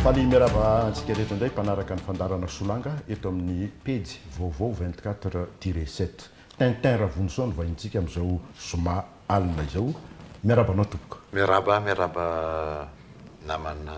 Faly miarahaba antsika rehetra indray mpanaraka ny fandarana solanga eto amin'ny pejy vaovao 24 tiré 7. Tintin Ravonisoa no vahintsika amin'izao zoma alina izao. Miarahaba anao tompoko. Miarahaba, miarahaba namana.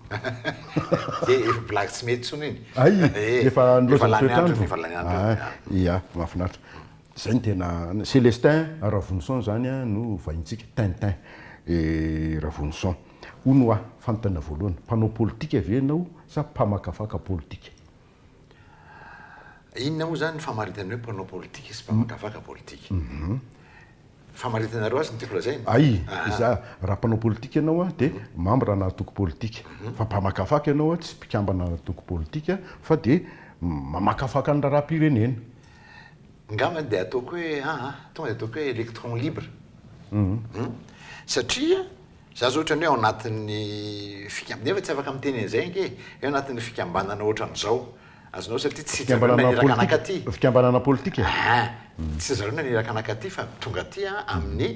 Dia efa blague tsy mety intsony iny. Hay, efa niloza ny toetr'andro. Efa lany andro. Hay, ia, mahafinaritra. Izay no tena, Celestin Ravonison izany no vahintsika, Tintin et Ravonison. Hono hoa, fanontaniana voalohany, mpanao politika ve ianao sa mpamakafaka politika? Inona moa izany ny famaritana hoe mpanao politika sy mpamakafaka politika? Mhm. Famaritanareo azy ny tiako lazaina. Ay, ah. iza raha mpanao politika ianao a, dia mhm. mambra ana antoko politika. Mhm. Fa mpamakafaka ianao a, tsy mpikambana ana antoko politika, fa dia mamakafaka ny raharaham-pirenena. Ngamba dia ataoko hoe, aha, tonga dia ataoko hoe électron libre. Hmm. Satria Za zao ohatran'ny hoe ao anatin'ny fikam-, nefa tsy afaka miteny an'izay ange e, hoe anatin'ny fikambanana ohatran'izao. Azonao satria tsy zareo no naniraka anaka aty. Fikambanana politika e? Aa! Tsy zareo no naniraka anaka aty fa tonga aty aho amin'ny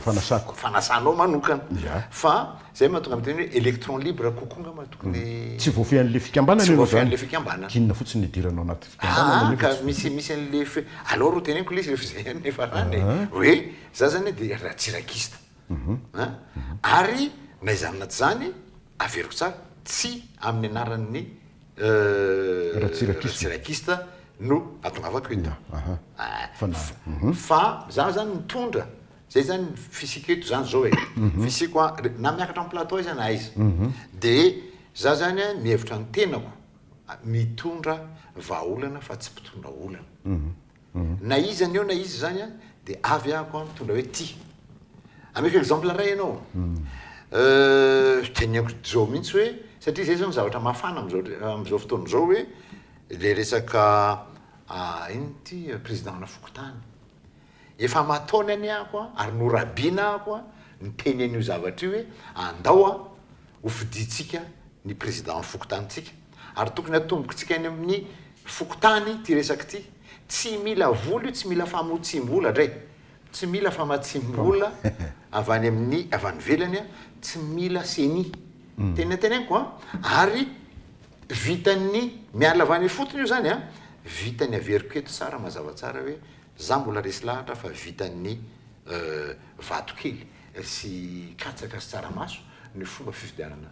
Fanasako. fanasanao manokana. Ya. Fa izay no mahatonga miteny hoe electron libre kokoa angamba no tokony. Tsy voafehin'ilay fikambanana Tsy ianao voafehin'ilay izany. fikambanana. K'inona fotsiny no idirana ao anaty fikambanana Aa! nefa Ka tsy misy, misy an'ilay fe, aleo ro teneniko lesy rehefa izay ihany no ifarana e, hoe za izany dia ra-tsy rakista. Ary na izany na tsy izany, averiko tsara, tsy amin'ny anaran'ny Ratsirakista no atongavako eto. Fa izaho izany mitondra, izay izany ny fisiako eto izany izao e. Fisiako na miakatra amin'ny plateau aiza na aiza. Dia izaho izany mihevitra ny tenako, mitondra vahaolana fa tsy mpitondra olana. na iza ny eo na iza izany an de avy ahako an mitondra hoe ty ameko exemple ray ianao euh teneniko zao mintsy hoe satria zay zao ny zavatra mafana amizao amizao fotoana zao hoe le resaka ah ino ty président ana fokontany efa aman-taony anie ahako an ary norabiana ahako an niteny an'io zavatra io hoe andao an ho fidintsika ny président fokontanintsika Ary tokony hatombokitsika any amin'ny fokontany ity resaka ity. Tsy mila vola io, tsy mila famotsiam-bola dray, tsy mila famatsiam-bola avy any amin'ny, avy any ivelany, tsy mila ceni. Tena noteneniko an! Ary vitan'ny, miala avy any ifotony io izany an, vitan'ny averiko eto tsara mazava tsara hoe izaho mbola resy lahatra fa vitan'ny vatokely sy katsaka sy tsaramaso ny fomba fifidianana.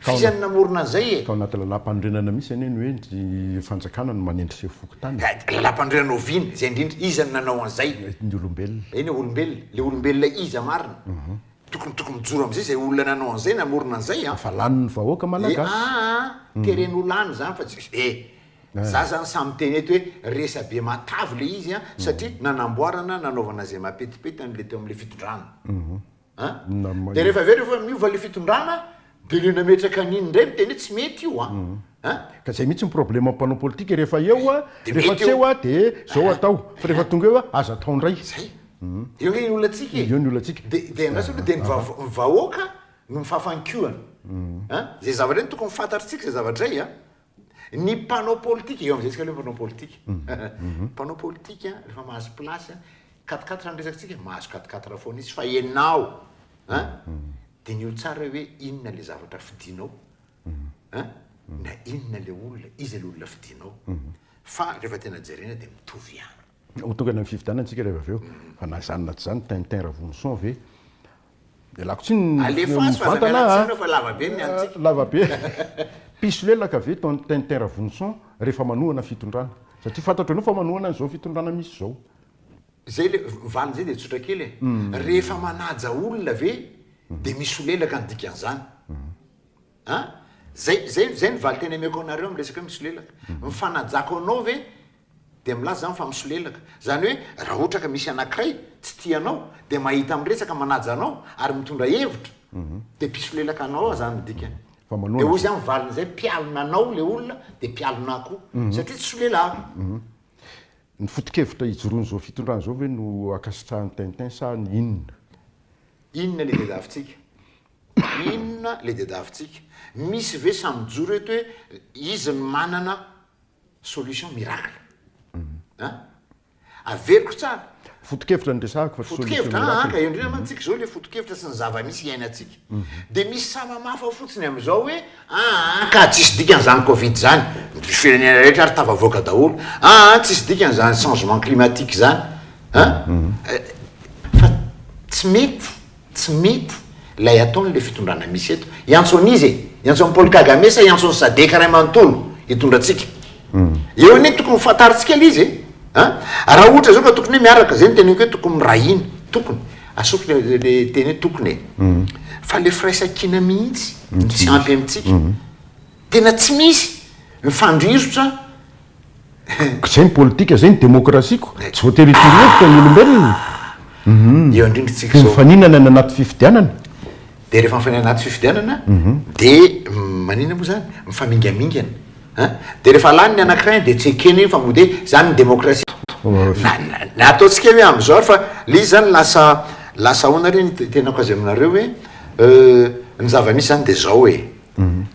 Fa iza no namorona an'izay e? Tao anaty lalàmpanorenana misy anie ny hoe ny fanjakana no manendr'seho fokontany. Lalàmpanorenana oviana izay indrindra? Iza no nanao an'izay? Ny olombelona. Eny e, olombelona. Ilay olombelona iza marina? Tokony tokony mijoro amin'izay izay olona nanao an'izay, namorona an'izay an! Efa lanin'ny vahoaka malagasy. E aa a! Tereny ho lany izany fa tsy, e! Za izany sahy miteny eto hoe resabe matavy ilay izy an! Satria nanamboarana, nanaovana izay mahapetipety an'ilay teo amin'ilay fitondrana. an de rehefa avy eo rehefa miova le fitondrana de le nametraka an'iny ndray miteny hoe tsy mety io an an ka zay mihitsy ny problème ny mpanao politika rehefa eo an rehefa tsy eo an de zao atao fa rehefa tonga eo an aza atao ndray zay eo nge ny olantsika e eo ny olantsika de de andraso aloha de ny vahoaka no mifafan-kiohana an zay zavatra zay tokony fantatritsika zay zavatra zay an Ny mpanao politika, eo amin'izay isika aloha mpanao politika. Ny mpanao politika, rehefa mahazo place, quatriquatre ny resakantsika, mahazo quatriquatre foana izy, fa ianao, an, diniho tsara hoe inona ilay zavatra fidinao, an, na inona ilay olona, iza ilay olona fidinao. Fa rehefa tena jerena dia mitovy ihany. Ho tonga any amin'ny fifidianana isika rehefa avy eo, fa na izany na tsy izany, Tintin Ravoloson ve? Ialako tsiny ny mivantana an! Lava be! Mpisolelaka ve Tintin Ravoloson rehefa manohana fitondrana? Satria fantatro ianao fa manohana an'izao fitondrana misy izao. Izay ilay valiny izay dia tsotra kely e! Rehefa manaja olona ve dia misolelaka ny dikan'izany? An! Izay ny valin-teny omeko anareo amin'ny resaka hoe misolelaka. Ny fanajako anao ve Dia milaza izany fa misolelaka. Izany hoe raha ohatra ka misy anankiray tsy tia anao, dia mahita miresaka manaja anao ary mitondra hevitra, dia mpisolelaka anao ao izany ny dikany. Dia hoy izany ny valiny izay, mpialona anao ilay olona dia mpialona ahy koa, satria tsy solelahako. Ny foto-kevitra ijoroan'izao fitondrana izao ve no ankasitrahan'i Tintin sa ny inona? Inona ilay diadavintsika? Inona ilay diadavintsika? Misy ve samy mijoro eto hoe izy no manana Solution miracle an! Averiko tsara. Foto-kevitra no resahako fa tsy solution miracle. Foto-kevitra an! Ka eo indrindra mantsika izao ilay foto-kevitra sy ny zava-misy iainantsika. Dia misy samamafa fotsiny amin'izao hoe aa ka tsisy dikany izany covid izany, ny firenena rehetra ary tafavoaka daholo, aa tsisy dikany izany changement climatique izany an! Fa tsy mety Tsy mety lay ataony le fitondrana misy eto. Iantso an'iza e? Iantso an'i Paul Kagame sa iantso an'i Sadec ray manontolo hitondra antsika? Eo anie tokony ho fantarintsika lay izy e! A! Raha ohatra zao ka tokony hoe miaraka, zay no teneniko hoe tokony mirahina, tokony, asoko le le teny hoe tokony e! Fa le firaisan-kina mihitsy no tsy ampy amintsika. Tena tsy misy mifandrirotra Zay ny politika, zay ny demokrasiako, tsy voatery hitory hevitra ny olombelona. Eo indrindra isika izao. Dia mifaninana any anaty fifidianana. Dia rehefa mifaninana anaty fifidianana, dia maninona moa izany? Mifamingamingana. An? Dia rehefa lany ny anankiray dia tsy ekena iny fa mody hoe izany ny demokrasia. Ny ataontsika hoe amin'izao ary fa ilay izy izany lasa lasa ahoana re ny tenako azy aminareo hoe ny zava-misy izany dia izao e.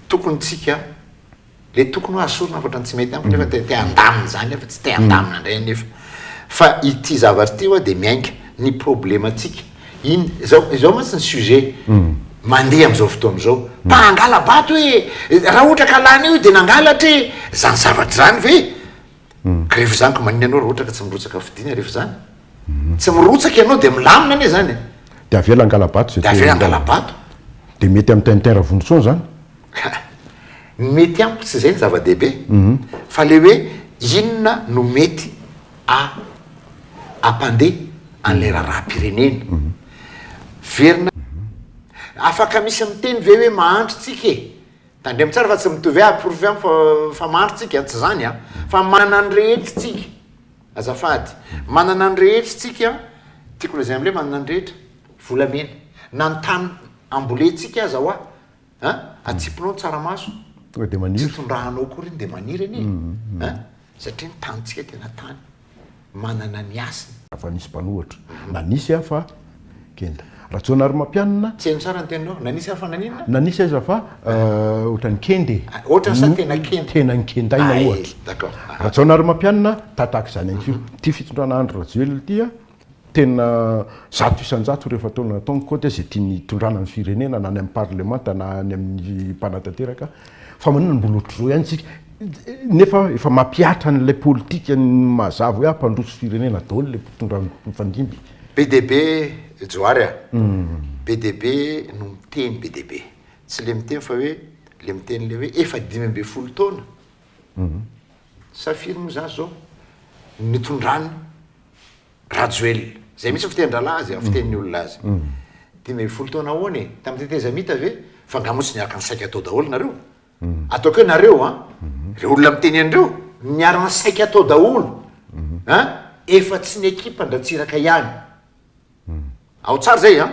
Tokony tsika. Ilay tokony ho azo sorona hafatra ny tsy mety amiko nefa te handamina izany aho fa tsy te handamina indray anefa. Fa ity zavatra ity hoa dia miainga ny problemantsika. In, izao, izao mantsy ny sujet mandeha amin'izao fotoana izao. Mba hangala-bato e! Raha ohatra ka lany io dia nangalatra e! Izany zavatra izany ve? Ka rehefa izany ka maninona ianao raha ohatra ka tsy mirotsaka fidiana rehefa izany? Tsy mirotsaka ianao dia milamina anie zany e! Dia avela hangala-bato izay te hangalana. Dia avela hangala-bato. Dia mety amin'i Tintin Ravondrotsoa an'izany? Ny mety amiko tsy izay no zava-dehibe, fa ilay hoe inona no mety hampandeha an'ilay raharaham-pirenena. Verina, afaka misy miteny ve hoe mahantra isika e? Tandremo tsara fa tsy mitovy hoe aporofo amiko fa mahantra isika, tsy izany an! Fa manana ny rehetra isika. Azafady. Manana ny rehetra istsika, tiako lazaina amin'ilay manana ny rehetra, volamena. Na ny tany ambolentsika aza hoa an, atsipinao ny tsaramaso, tsy tondrahanao akory iny dia maniry anie an, satria ny tanintsika tena tany manana ny hasiny. Raha nisy mpanohitra, na nisy aho fa Kenda. Rajaonarimampianina. Tsy hainy tsara ny teninao. Nanisy ary fa naninona? Nanisy aiza fa ohatran'ny kenda e. Ohatrany sa tena kenda? Tena nikendaina ohatra. Hay, d'accord. Rajaonarimampianina, tataka izany ihany koa. Ity fitondrana Andry Rajoelina ity a, tena zato isan-jato ireo efa taona nataony koa dia izay tiany hitondrana ny firenena na any amin'ny parlemanta na any amin'ny mpanatanteraka fa maninona no mbola ohatr'izao ihany isika? nefa efa mampihatra an'ilay politika ny mazava hoe hampandroso firenena daholo ilay mpitondra mifandimby. Be dia be Johary a! Be dia be no miteny be dia be. Tsy le miteny fa hoe le miteny le hoe efa dimy ambin'ny folo taona sa firy moa zany zao nitondran'i Rajoelina. Zay mihitsy fitenin-drahalahy azy, fitenin'ny olona azy. Dimy ambin'ny folo taona ahoana e? Tamin'ny tetezamita ve? Fa nga moa tsy niaraka nisaika tao daholo nareo? ataoko hoe nareo an reo olona miteny an'ireo miarana saika atao daholo an efa tsy ny ekipa ndratsiraka ihany ao tsara zay an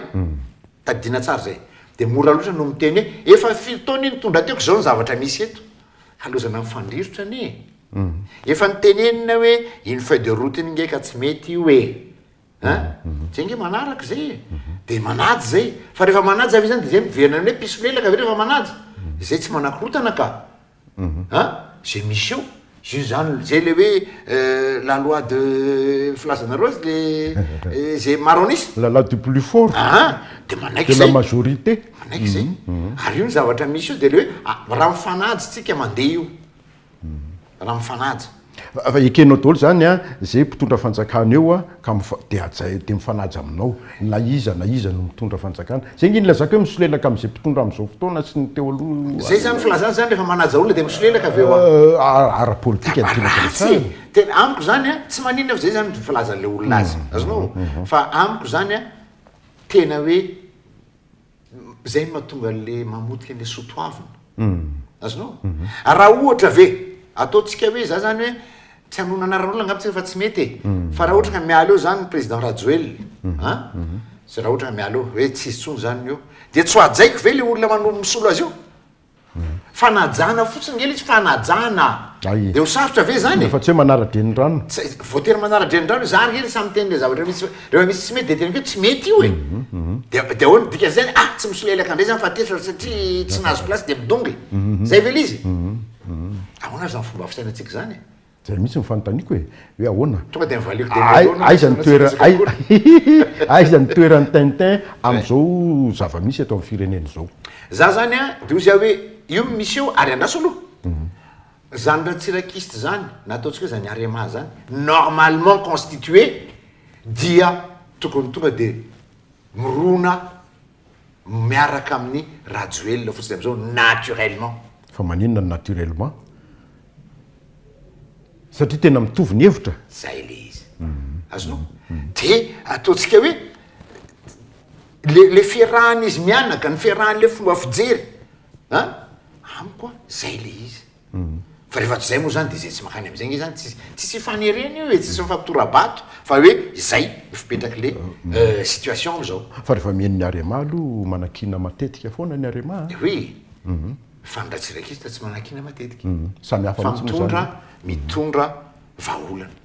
tadidina tsara zay de mora loatra no miteny hoe efa firy taona io nitondra teo ko zao ny zavatra misy eto halozana mifandrirotra anie efa nitenenina hoe une feuille de route ny nge ka tsy mety io e a zay nge manaraka izay e dia manaja izay fa rehefa manaja ve izany dia izay miverina ny hoe mpisolelaka ve rehefa manaja izay tsy manakorotana ka a izay misy eo izay izany izay ilay hoe la loi de filazanareo azy ilay izay maro an'isa la loi du plus fort aa dia manaiky izay de la majorité manaiky izay ary io ny zavatra misy io dia ilay hoe raha mifanaja isika mandeha io raha mifanaja. Raha ekenao daholo izany an, izay mpitondra fanjakana eo an, ka dia hajainao, dia mifanaja aminao na iza na iza no mitondra fanjakana. Izay nge nilazako hoe misolelaka amin'izay mpitondra amin'izao fotoana sy ny teo aloha io. Izay izany filazana izany, rehefa manaja olona dia misolelaka avy eo an. Ara-politika ny tena resahana. Tena amiko izany an, tsy maninona fa izay izany ny filazan'ilay olona azy. Azonao? Fa amiko izany an, tena hoe. Izay no mahatonga an'ilay mamotika an'ilay soa toavina. Azonao? Raha ohatra ve, ataontsika hoe za zany hoe, tsy hanohana anaran'olona angamba tsika fa tsy mety e, fa raha ohatra ka miala eo zany ny président Rajoelina an, zay raha ohatra ka miala eo, hoe tsy izy intsony zany ny eo, dia tsy hohajaiko ve ilay olona mano- misolo azy io? Fanajana fotsiny ngely izy, fanajana. Eo sarotra ve zany e? Fa tsy hoe manara-drenirano. Voatery manara-drenirano izy, zary ngely samy miteny le zavatra misy, rehefa misy tsy mety dia tena hoe tsy mety io e. Mhm, mhm. Dia dia ahoana ny dikan'izay zany? Ah, tsy misolelaka indray zany fa tezitra satria tsy nahazo place dia midongy. Mhm, Zay ve le izy? Ahoana ary zany fomba fisainantsika zany e? Zay mihitsy no fanontaniako e! Hoe ahoana? Tonga dia nivaliako dia mialoha anao Aiza ny toerany Hihihihi Aiza ny toeran'i Tintin amin'izao zava-misy eto amin'ny firenena izao? Za zany a, de hoy za hoe io no misy eo ary andraso aloha. Zany ratsirakista zany na ataontsika hoe zany Arema zany normalement constitué dia tokony tonga de mirona miaraka amin'ny rajoelina fotsiny amizao naturellement. Fa maninona ny naturellement? Satria tena mitovy ny hevitra? Zay le izy. Azonao? De ataontsika hoe le le fiarahan'izy mianaka, ny fiarahan'le fomba fijery an! Amiko an, zay le izy. Fa rehefa tsy izay moa izany dia izay tsy mankany amin'izay ange izany tsisy tsisy ifanerena io e, tsisy mifampitora-bato fa hoe izay no fipetrak'ilay situation amin'izao. Fa rehefa mihaino ny Arema aloha manakiana matetika foana ny Arema a! Oui, fa ny Ratsiraka Ista tsy manakiana matetika fa mitondra mitondra vahaolana.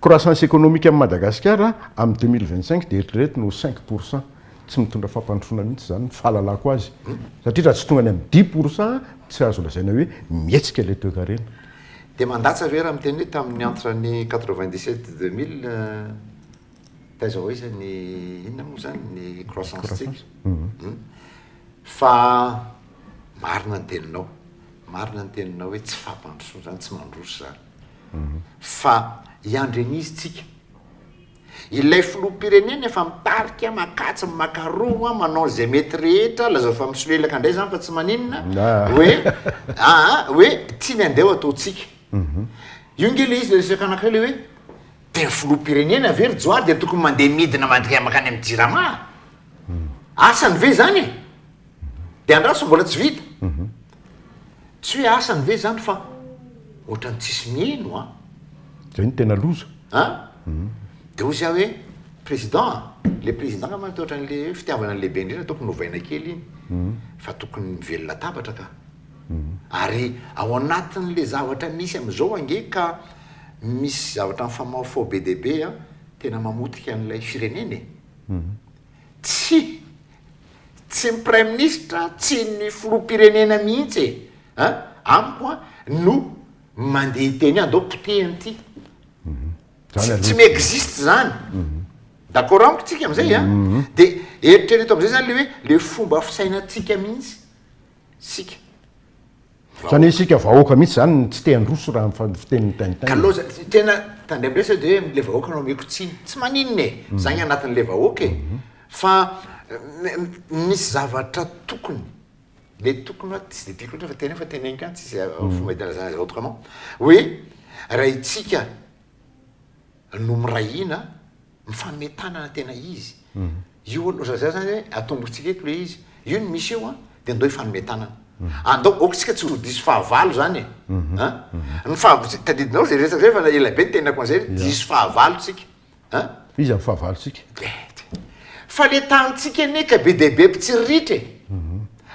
Croissance économique amin'i Madagasikara amin'ny deux mille vingt cinq dia eritrereto ny ho cinq pour cent. Tsy mitondra fampandrosoana mihitsy izany ny fahalalako azy satria raha tsy tonga any amin'ny dix pour cent tsy azo lazaina hoe mihetsika ilay toekarena. Dia mandatsa ve raha miteny hoe tamin'ny entre ny quatre vingt dix sept deux mille taiza ho aiza ny inona moa izany ny croissance-tsika? Fa marina ny teninao, marina ny teninao hoe tsy fampandrosoana izany, tsy mandroso izany. fa hiandry an'izy tsika. Ilay filoham-pirenena efa mitarika, makatsy, mimakaroa, manao izay mety rehetra, lazao fa misolelaka indray izany fa tsy maninona, hoe aa hoe tsy ny andeha ho ataontsika. Io nge ilay izy ilay resaka anankiray ilay hoe tena filoham-pirenena ve ry Johary dia tokony mandeha midina mandria mankany amin'ny Jirama? Asany ve izany e? Dia andraso mbola tsy vita. Tsy hoe asany ve zany fa otrany tsisy miheno an! Zay no tena loza. An! Dia hoy zah hoe président an! Le président angamba no otrany le hoe fitiavana ny lehibe indrindra tokony ovaina kely iny fa tokony mivelona latabatra ka! Ary ao anatin le zavatra misy amizao ange ka misy zavatra mifamaofao be dia be an! Tena mamotika an'ilay firenena e! Tsia, tsy ny praiminisitra, tsy ny filoham-pirenena mihitsy e! An! amiko an! no mandeha teny hoe andao potehina ity. Zany aloha. Tsy mi-existe zany. D'accord amiko tsika amin'izay an! Dia eritrereto amin'izay zany le hoe le fomba fisainantsika mihitsy isika. Zany hoe isika vahoaka mihitsy zany no tsy te handroso raha ny fitenin'i Tintin. Ka loza, tena tandremo ndray sao dia hoe le vahoaka no ameko tsiny. Tsy maninona e, za ny anatin'le vahoaka e. Fa misy zavatra tokony, mety tokony hoa tsy dia tiako loatra fa teneno fa teneniko ihany tsisy fomba itanazana azy autrement, hoe raha itsika, no mirahina mifanome tanana tena izy io aloha za zany hoe atombotsika eto le izy io ny misy eo a de ndao hifanome tanana andao ok tsika tsy ho diso fahavalo zany e a ny fahabotsika tadidinao zay resaka zay fa na elabe ny tenako an'zay hoe diso fahavalo tsika a iza ny fahavalo tsika fa le tanintsika anie ka be dia be mpitsiriritra e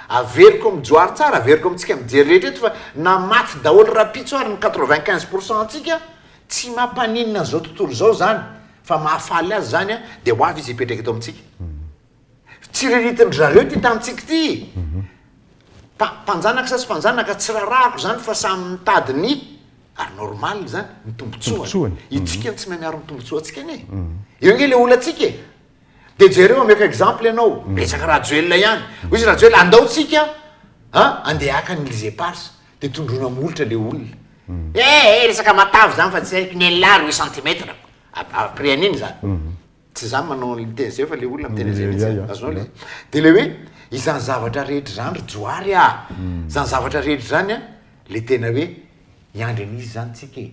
averiko amin'ny johary tsara averiko amintsika mijery rehetra eto fa na maty daholo rapitso ary ny quatre vingt quinze pourcent antsika Tsy mampaninona an'izao tontolo izao izany fa mahafaly azy izany an, dia ho avy izy hipetraka eto amintsika. Tsiriritin-dry zareo ity tanintsika ity. Mpa, mpanjanaka sasy mpanjanaka, tsy rarahako izany fa samy mitady ny, ary normal izany, ny tombontsoany. Isika no tsy mahay miaro ny tombontsoantsika anie. Eo ange ilay olantsika e! Dia jereo, omeko exemple ianao, resaka Rajoelina ihany. Hoy izy Rajoelina, andao tsika an, handeha haka ny Elysee Palace. de tondroina molotra le olona eh eh resaka matavy zany fa tsy haiko ny elah roy centimètre après an'iny zany tsy za manao ny miteny zay fa le olona miteny zay mitsy azonao le de le hoe izany zavatra rehetra zany ry johary ah zany zavatra rehetra zany a le tena hoe hiandry an'izy zany tsika e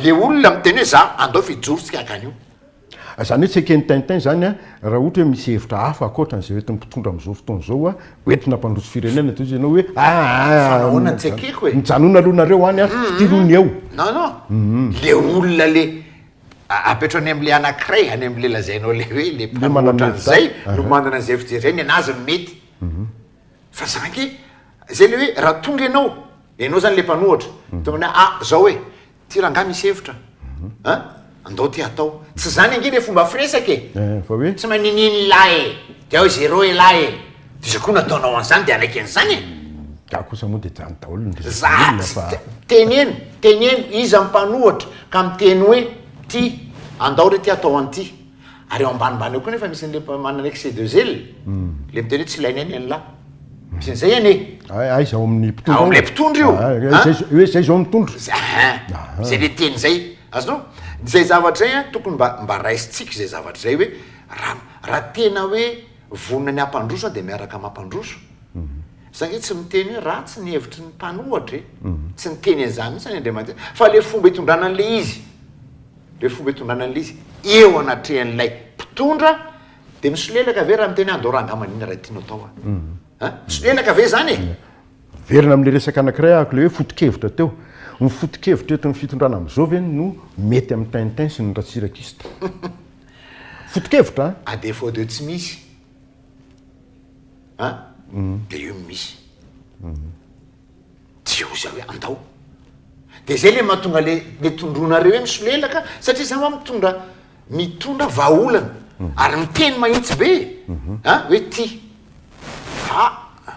le olona miteny hoe za andao fijorotsika akany io Izany hoe tsy eken'i Tintin izany raha ohatra hoe misy hevitra hafa ankoatran'izay hoentin'ny mpitondra amin'izao fotoana izao hoe hoentina hampandroso firenena, toy izay ianao hoe aa mijanona aloha nareo any a, fitirony eo. Non non, le olona le apetrao any amle anakiray, any amle lazainao le hoe le mpanao otran'izay no manana an'izay fijery, ny anazy no mety. Fa za ange, zay le hoe raha tonga ianao, ianao zany le mpanohatra, tonga ianao hoe ah zao e, Ty rangah misy hevitra a! an! Andao ty hatao. Tsy zany ange le fomba firesaka e! Eh, fa hoe? Tsy maninin ilah e! De ao zero elah e! D'iza koa nataonao an'zany de hanaiky an'zany e! Za kosa moa de jany daholo ny resaky ny olona fa. Za tsy, teneno, teneno iza ny mpanohatra ka miteny hoe ty, andao re ty hatao an'ty. Ary eo ambanimbany eo koa nefa misy an'le manana excès de zèle. Hmm. Le miteny hoe tsy ilaina ny an'la. Hmm. Misy an'izay anie. Aiza ao amin'ny mpitondra. Ao amin'ilay mpitondra io. Ah, hoe izay izao mitondra. Izay le teny izay. Azonao? Izay zavatra izay tokony mba mba raisintsika izay zavatra izay hoe raha raha tena hoe vonona ny hampandroso dia miaraka mampandroso. Hmm. Satria tsy miteny hoe ratsy ny hevitry ny mpanohatra e. Tsy niteny an'izany mihitsy ny Andriamanitra. Fa le fomba itondrana an'le izy. Ireo fomba itondrana an'ilay izy eo anatrehan'ilay mpitondra dia misolelaka ve raha miteny an do ranga aman ina raha tianao atao an? Misolelaka ve izany e? Miverina amin'ilay resaka anankiray ahako ilay hoe foto-kevitra teo. Ny foto-kevitra eto amin'ny fitondrana amin'izao ve no mety amin'i Tintin sy ny Ratsirakista? Foto-kevitra an! À défaut de tsy misy an dia io no misy. Tsy eo izay hoe andao. Dia izay ilay mahatonga ilay ilay tondroinareo hoe misolelaka satria izany ho'a mitondra mitondra vahaolana mhm. ary miteny mahitsy be a mhm. ah, hoe ty a ah,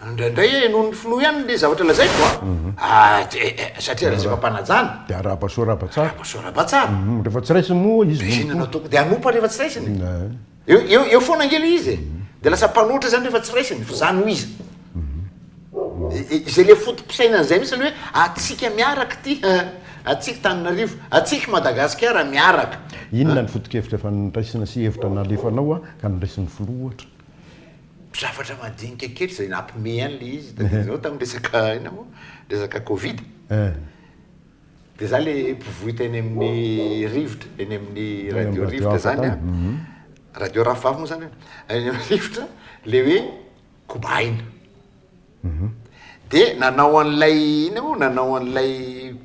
indraindray e noho ny filoha ihany le zavatra lazaiko a mhm. ah, eh, eh, satria resaka mpanajana dia araba soa raba tsara araba soa raba tsara rehefa tsy raisiny moa izy de asiana nataoko dia anompa rehefa tsy raisiny eh. Eo, eo, eo foana ange le izy e. Dia lasa mpanoatra izany rehefa tsy raisiny, fa izany ho izy. I- i- Izay le foto-pisainana izay mihitsy aloha hoe atsika miaraka ity, eh, atsika Tananarivo, atsika Madagasikara miaraka. Inona ny foto-kevitra efa noraisina sy hevitra nalefanao an, ka noraisin'ny filoha ohatra? Zavatra madinika kely izay nampihomehy any le izy, tadiavinao tamin'ny resaka inona moa? Resaka Covid. Eh. Dia za le mpivoita eny amin'ny rivotra, eny amin'ny radio rivotra zany an, mhm. radio rafavavy moa zany an, eny amin'ny rivotra le hoe kobaina. Mhm. Dia nanao an'ilay ina moa, nanao an'ilay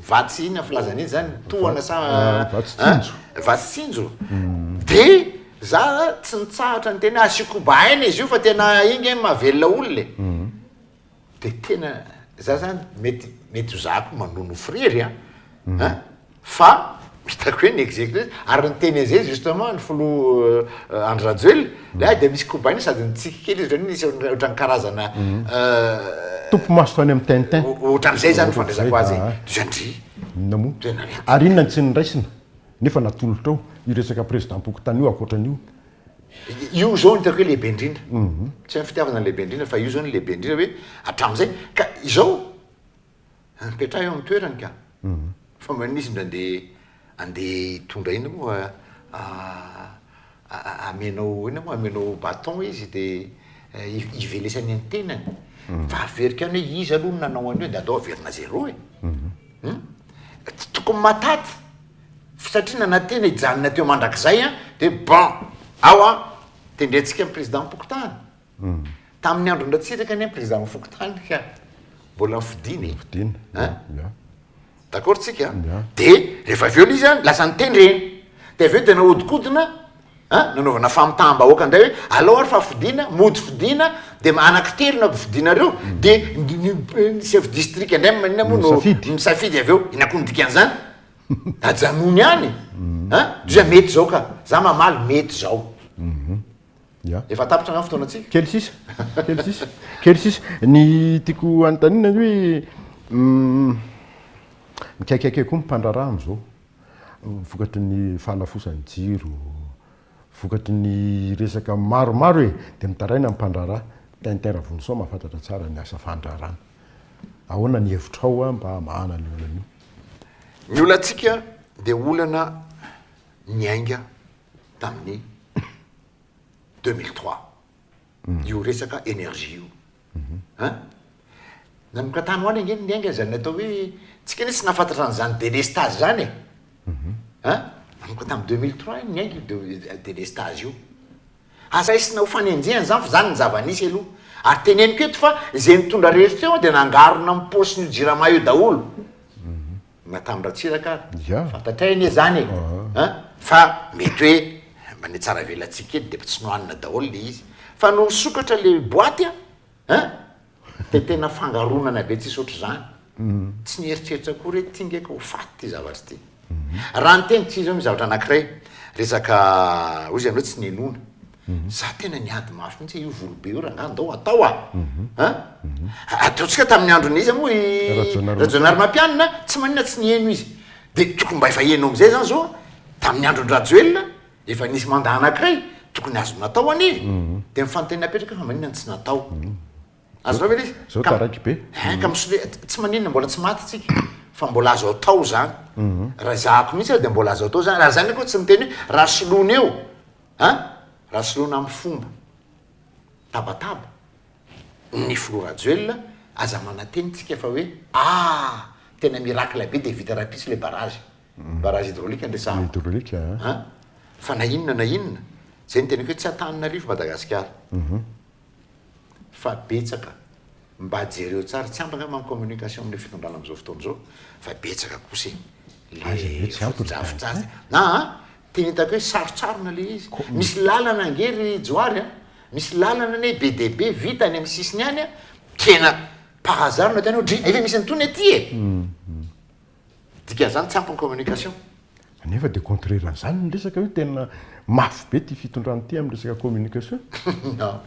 vatsy ina filazana iny zany, tohana sa ah, vatsy tsinjo, vatsy tsinjo. Mhm. Dia za tsy nitsahatra ny tena asio kobaina izy io fa tena inge mahavelona olona e. Dia tena za zany mety mety ho za koa manono friry a an fa hitako hoe ny executive ary ny teny an'izay justement ny filoha Andry Rajoelina dia dia misy kobainy sady nitsiky kely izy ohatran'ny nisy ohatran'ny karazana Topy maso tany amin'ny tintin. ohatran'izay zany fandraisako azy e. Dia ndry. Inona moa? Tena mety. Ary inona ny tsy nindraisina? Nefa natolotra ao io resaka president-pokontany io ankoatran'io Io zao no hitako hoe lehibe indrindra. Mhm. Tsy hoe ny fitiavana no lehibe indrindra fa io zao no lehibe indrindra hoe hatramin'izay ka izao mipetraha eo amin'ny toerany ka. Mhm. Fa mba misy mba andeha andeha hitondra inona moa fa ah, ah, amenao inona moa amenao bâton izy dia eh, hi- hivelesany ny tenany. Mhm. Fa averiko ihany hoe izy aloha no nanao an'io dia aleo averina zéro e. Hum? Tokony mataty. satria nanantena hijanona teo mandrakizay an, dia bon, ao an, tendrentsika ny président fokontany, tamin'ny andron-dRatsiraka anie ny président fokontany ka mbola nofidina e, an, d'accord tsika an, dia rehefa avy eo le izy an, lasa nitendrena, dia avy eo dia nahodikodina, An, nanaovana famitaham-bahoaka indray hoe alao ary fa fidiana, mody fidiana, dia anankitelo na fidianareo, dia ny chef district indray no maninona moa no misafidy avy eo, inona koa ny dikan'izany? Ajanony any e! An, dia mety izao ka! Za mamaly mety izao. Efa tapitra angaha ny fotoanantsika? Kely sisa, kely sisa, kely sisa. Ny tiako hanontaniana ny hoe, mikaikaika koa ny mpandraharaha amin'izao. vokatry ny fahalafosan'ny jiro, vokatry ny resaka maromaro e! dia mitaraina ny mpandraharaha. Tintin Ravonison mahafantatra tsara ny asa fandraharahana. Ahoana ny hevitrao mba hamahana an'io olana io? Ny olantsika dia olana niainga tamin'ny deux mille trois, io resaka énergie io. An! Nanokatany ho any ange ny niainga izany atao hoe, tsika anie tsy nahafantatra an'izany delestazy izany e! An! Nanomboka tamin'ny deux mille trois ny niainga io delestazy io. Aza raisina ho fanenjehana izany fa izany no zava-nisy aloha. Ary teneniko eto fa izay nitondra rehetra teo dia nangarona amin'ny paosin'io jirama io daholo. Na tamin'i Ratsiraka ary. Ya. Fantatray anie izany e. An! Fa mety hoe mba nitsaravelantsika kely dia efa tsy nohanina daholo ilay izy. Fa nony nisokatra ilay boaty an! An! Dia tena fangaronana be tsisy ohatr'izany. Tsy nieritreritra akory hoe ity nge ka ho faty ity zavatra ity. Raha niteny kizao ny zavatra anankiray, resaka, hoy izy ianao tsy ninoana. Za tena niady mafy mihitsy io volobe io rangahy ndao atao a. Mhm. A? Mhm. Ataontsika tamin'ny andron'iza moa i Rajaonarimampianina, tsy maninona tsy niheno izy. Dia tokony mba efa heno amin'izay zany zao, tamin'ny andron-dRajoelina, efa nisy mandat anankiray, tokony azo natao anie. Mhm. Dia ny fanontaniana apetraka fa maninona no tsy natao. Azonao ve ilay izy? Zao taraiky be. Hein, ka misole, tsy maninona mbola tsy maty tsika, fa mbola azo atao zany. Raha ezahako mihitsy aho dia mbola azo atao zany. Raha zany akory tsy niteny hoe raha soloina eo, A, Raha soloina amin'ny fomba tabataba ny filoha Rajoelina, aza manantena isika fa hoe a, tena miracle be dia vita rahampitso ilay barrage, barrage hydraulique no resahana. Hydraulique a. A, fa na inona na inona, izay no teneniko hoe tsy Antananarivo Madagasikara. Fa betsaka, mba jereo tsara, tsy ampy angamba ny communication amin'io fitondrana amin'izao fotoana izao, fa betsaka kosa e, ilay fotodrafitrasa e. A, Tena hitako hoe sarotsarona ilay izy. Misy lalana ange ry Johary a, misy lalana anie be dia be vita any amin'ny sisiny any a, tena par hasard no hitanao dri, efa misy an'itony aty e! Dikan'izany tsampy ny communication. Nefa dia contraire an'izany ny resaka hoe tena mafy be ity fitondrana ity amin'ny resaka communication. Non.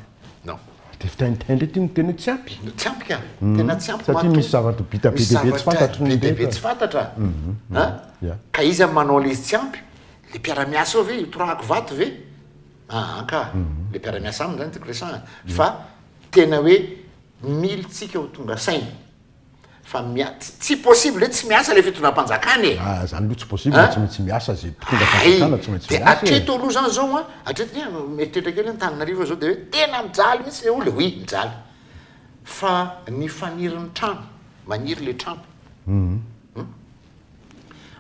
Non. Dia fitaintaina indray ity no tena hoe tsy ampy. Tsy ampy ka, tena tsy ampy. Satria misy zavatra bita be dia be tsy fantatry ny rehetra. Misy zavatra be dia be tsy fantatra. An? Ka iza no manao ilay izy tsy ampy? Ilay mpiara-miasa ao ve? Io torahako vato ve? Aa ka, ilay mpiara-miasa aminy izany no tiako resahana. Fa tena hoe mily tsika ho tonga saina. fa tsy possible hoe tsy miasa ilay fitondram-panjakana e! Ah, izany aloha tsy possible, tsy maintsy miasa izay mpitondra fanjakana, tsy maintsy miasa e! Dia hatreto aloha izany izao an, hatreto dia mieritreritra kely hoe Antananarivo izao dia hoe tena mijaly mihitsy ilay olona, oui mijaly. Fa ny faniry ny trano, maniry ilay trano. Hum.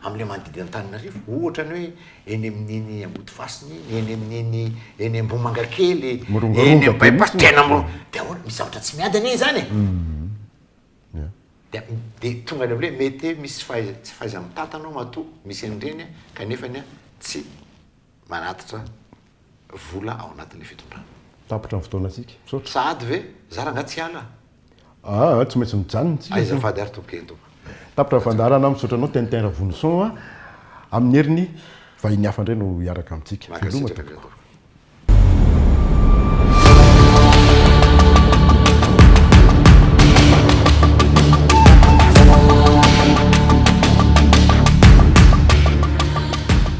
amin'ilay manodidina Antananarivo, ohatra ny hoe eny amin'iny Ambodifasina iny, eny amin'iny eny Ambohimangakely, eny amin'ny bypass tena mor, dia ahoana, misy zavatra tsy miady anie izany e! Dia dia tonga any amin'ilay hoe mety hoe misy fahaiza, tsy fahaiza-mitantana ao matoa misy an'ireny an, kanefany an, tsy. manatitra vola ao anatin'ny fitondrana. Tapitra ny fotoanantsika. Misaotra. Sahady ve? Za rangah tsy hiala a! Aa tsy maintsy mijanona isika zany. Azafady ary tompoko eny tompoko. Tapitra ny fandaharana, misaotra anao Tintin Ravonison a! Amin'ny heriny vahiny hafa indray no hiaraka amintsika. Veloma tompoko.